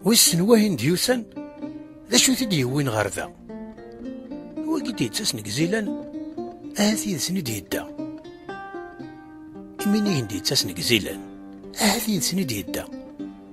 Wissen wahin d-yusan? D acu t-id yewwin ɣer da? Wagi d-yettas nek zilan, ahat yid-sen id yedda. Iminigen d-yettas nek zilan, ahat yid-sen id yedda.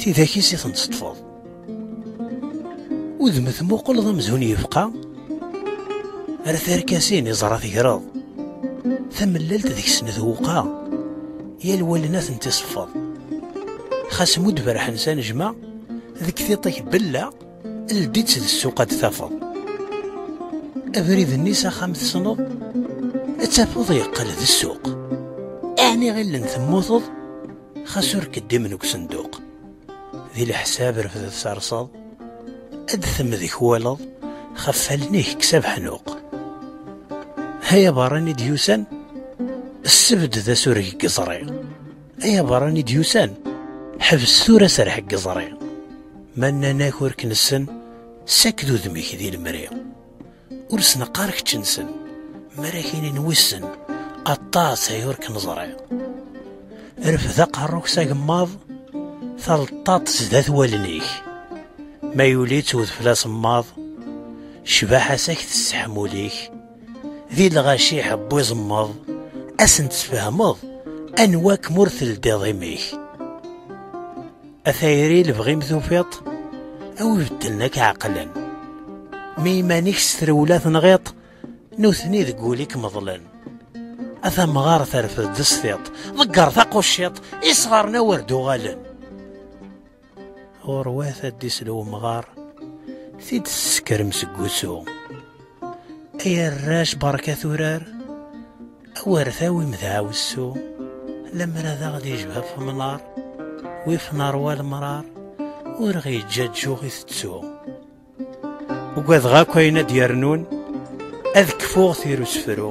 Tidak-is i ten-teṭṭfeḍ. Udem tmuqleḍ amzun yefqa ar tarkasin iẓra tegreḍ. Tamellalt deg-sen twuqa, yal wallen ad tent-iseffeḍ. Xas mudd berḥen s anejma, deg tiṭ-ik bella, ldi-tt d ssuq ad tafeḍ. Abrid-nni s axxam tesneḍ, ad tafeḍ yeqqel d ssuq. Ɛni ɣillen temmuteḍ? Xas ur keddimen deg usenduq. Di leḥsab refdet serseḍ, ad temdek waleḍ, xef allen-ik kkes abeḥnuq. Ay aberran i d-yusan, ssebd d asureg n yeẓri. Ay aberran i d-yusan, ḥbes tura serreḥ n yeẓri. Ma nnan-ak ur k-nessen, ssaked udem-ik di lemri. ur sneqqar keččensen marakinin wissen aṭas ay ur k-neẓriɣ rfed aqerru-k s agemmaḍ taleṭṭaṭ sdat wallen-ik ma yuli-tt udfel asemmaḍ cbaḥa-s ak tesseḥmul-ik di lɣaci ḥebb iẓemmeḍ asen-tesfehmeḍ anwa-kem ur teldiḍ imi-k A tayri lebɣi-m tufiḍ-t, a wi beddlen ak ɛeqlen. Mi iman-ik s trewla tenɣiḍ-t, nutni deg wul-ik meḍlen. A tamɣar terfed d sfiḍ, ḍegger taqucciḍ, isɣaren awer d-uɣalen. Ɣurwat ad d-isel umɣar, tid tessekrem seg wusu. Ay arrac berka turar awer tawim dɛawessu lemmer ad aɣ d-ijbab femnar wif neṛwa lemrar ur ɣ-yeǧǧaǧǧuɣ i tettu ugadeɣ akk ayen ad d-yernun ad kfuɣ tirusefru